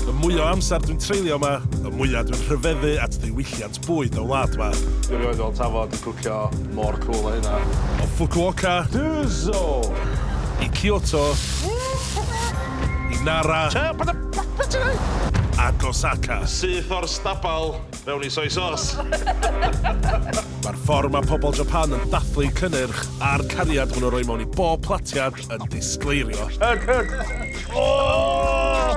Y mwy o amser dwi'n treulio yma, y mwyaf dwi'n rhyfeddu at ddiwylliant bwyd y wlad yma. Dwi rioed fel tafod i cwcio mor cwl a hynna. O Fukuoka. Duzo! I Kyoto. I Nara. Ac Osaka. Syth o'r stabal mewn i soy sos. Mae'r ffordd mae pobl Japan yn dathlu cynnyrch a'r cariad maen nhw'n rhoi mewn i bob platiad yn disgleirio. Hug, hug! Oh!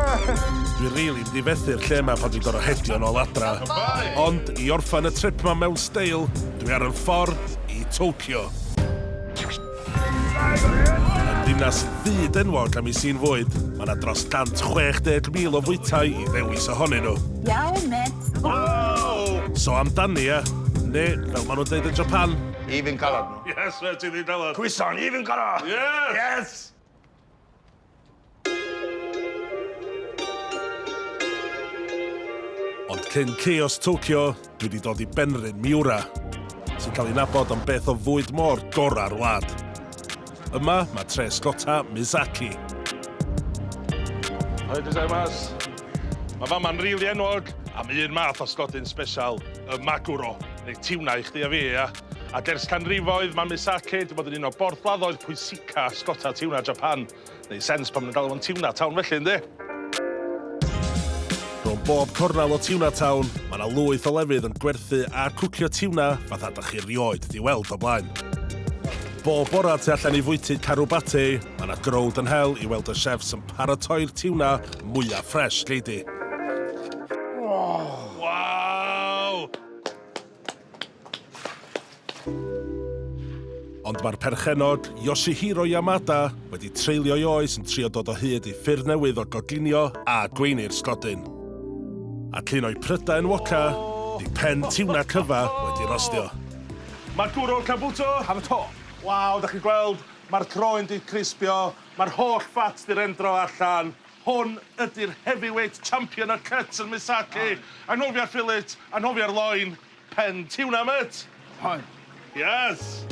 Dwi rili really difethu'r lle yma pan dwi'n gorau hedio yn ôl adra. Ond i orffan y trip yma mewn steil, dwi ar y ffordd i Tokyo. Yn ddinas fyd enwog am ei sy'n fwyd, mae yna dros 160,000 o fwytau i ddewis ohonyn nhw. Iawn, met. Wow! So amdani, e? Neu, fel maen nhw'n dweud yn Japan, Even colored. Yes, fe ti ddi dawad. Cwyson, even goro! Yes! Yes! Ond cyn chaos Tokyo, dwi wedi dod i Benryn, Miura, sy'n cael ei nabod am beth o fwyd môr gorau'r wlad. Yma, mae tre sgota Mizaki. Hoi, dwi'n dweud mas. Mae fama'n rili enwog am un math o sgodyn special, y maguro, neu tiwna i chdi a fi, ia? Ac ers canrifoedd, mae Miss Sake wedi bod yn un o borthladdoedd pwysica sgota tiwna Japan. Neu sens pan maen nhw'n galw fo'n tiwna town felly, ynddi? Rhwng bob cornel o tiwna town, mae yna lwyth o lefydd yn gwerthu a cwcio tiwna fatha dych chi rioed di weld o blaen. Bob bora tu allan i fwyty Karubate, mae yna growd yn hel i weld y chefs yn paratoi'r tiwna mwyaf ffresh gei di. Waw! Ond mae'r perchennog, Yoshihiro Yamada, wedi treulio'i oes yn trio dod o hyd i ffyrdd newydd o goginio a gweiny'r sgodyn. Ac un o'i prydau enwoca, ydi pen tiwna cyfa wedi rostio. Maguro Kabuto ar y top. Waw, 'dach chi'n gweld, mae'r croen 'di crispio, mae'r holl ffat 'di rendro allan. Hwn ydy'r heavyweight champion o'r cut yn Misaki. Anghofia'r fillet, anghofia'r loin, pen tiwna mêt! Hoi. Yes!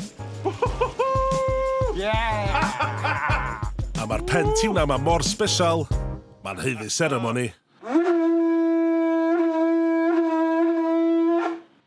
Whoo-hoo-hoo! Yeah! A ma'r pen tiwna ma mor sbesial, ma'n haeddu seremoni.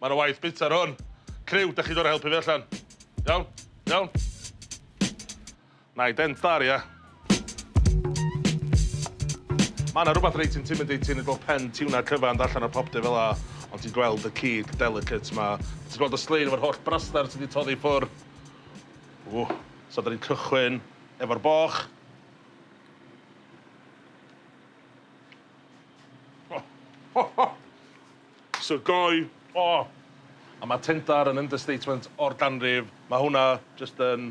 Mae 'na waith bwyta ar hwn. Criw, dach chi'n dod i helpu fi allan? Iawn? Iawn? Nai dent dda ar ia. Mae 'na rhywbeth reit intimidating yn gweld pen tiwna cyfan yn allan ar popty fel 'a, ond ti'n gweld y cig delicate 'ma. Ti'n gweld y slein efo'r holl braster ti 'di toddi i ffwr'. Ww. So 'dan ni'n cychwyn efo'r boch. Sir Gâi! O! A mae Tyndar yn understatement o'r ganrif. Mae hwnna jyst yn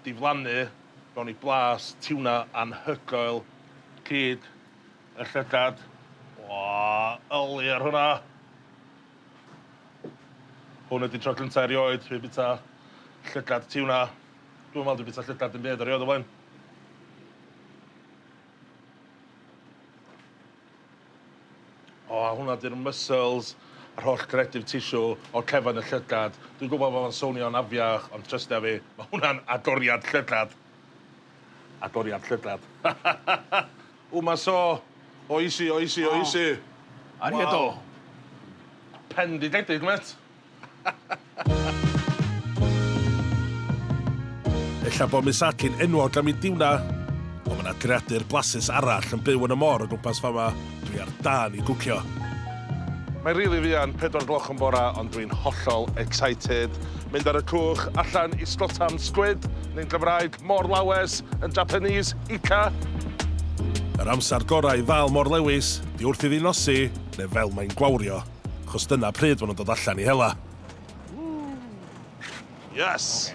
diflannu mewn i blas tiwna anhygoel. Cyd y llygad. O! Yli ar hwnna! Hwn ydi tro cynta erioed fi bita llygad tiwna. Dwi'm yn meddwl dwi bita llygad dim byd erioed o blaen. O, a hwnna 'di'r muscles, yr holl connective tissue o'r cefn, y llygad. Dwi'n gwybod bod o'n swnio'n afiach, ond trystia fi, mae hwnna'n agoriad llygad. Agoriad llygad. Ww, mae so oesi, oesi, oesi. O, aru e do? Pendidedig mêt. Ella bod Miss Atli'n enwog am ei diwna, ond mae yna greadur blasus arall yn byw yn y môr o gwmpas fama, dwi ar dân i gwcio. Mae'n rili fuan, pedwar gloch yn bora, ond dwi'n hollol excited. Mynd ar y cwch, allan i Stotam Squid, neu'n Gymraeg, Môr Lawes, yn Japanese, Ikka. Yr amser gorau i ddal Môr Lewis, 'di wrth iddi nosi, neu fel mae'n gwawrio. achos dyna pryd maen nhw'n dod allan i hela. Yes!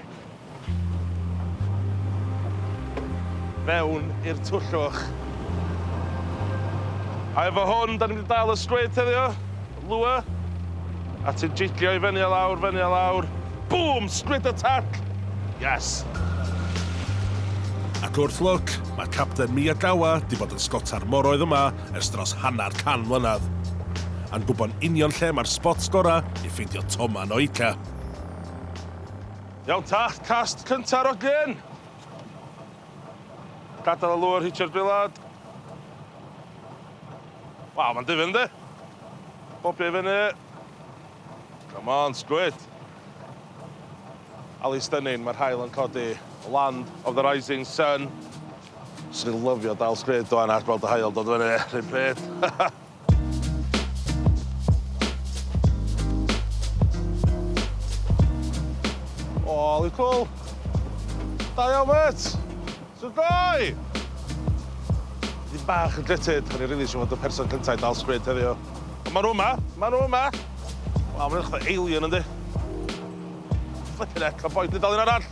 Fewn i'r twllwch. A efo hwn, da ni'n mynd i dal y sgwyd heddiw. Lua. A ti'n jiglio i fyny a lawr, fyny a lawr. Bŵm! Sgwyd y tall! Yes! Ac wrth lwc, mae Capten Miyagawa di bod yn sgota'r moroedd yma ers dros hanner can mlynedd, a'n gwybod union lle mae'r spots gorau i ffeindio Toma yn Oika. Iawn ta, cast cynta'r ogyn! Gadael y lwr, hitio'r bilad. Waw, mae'n difyr yndi? Bobio i fyny. Come on, sgwyd! Ali Stunning, mae'r haul yn codi. Land of the Rising Sun. Swn i'n lyfio dal sgrid ŵan a gweld y haul dod fyny, 'r un pryd. O, lwc cwl! Da iawn, mêt! Shwt ddoe? Dipyn bach yn gutted, o'n i rili isio fod y person cynta i dal sgrid heddiw. Ond ma' nw yma, ma' nw yma! Waw, ma'n edrych fatha alien, yndi? Flippin' heck, ma' boi 'di dal un arall!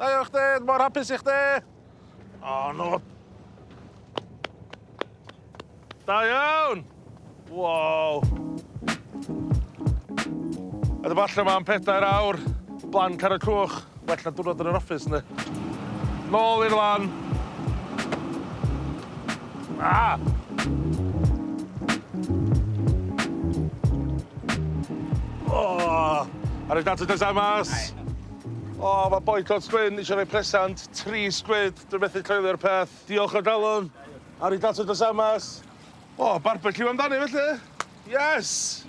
Da iawn chdi, dwi mor hapus i chdi! O, no! Da iawn! Wow! A dyma allan yma am pedair awr, blan car y cwch, well na diwrnod yn yr office, ne? Nôl i'r lan! Ah! Oh! Ar y data dysa mas! O, mae Boycott Gwyn eisiau rhoi presant, tri sgwid, dwi'n methu coelio'r peth. Diolch o galon, arigato gozaimasu. O, barbeciw amdani felly! Yes!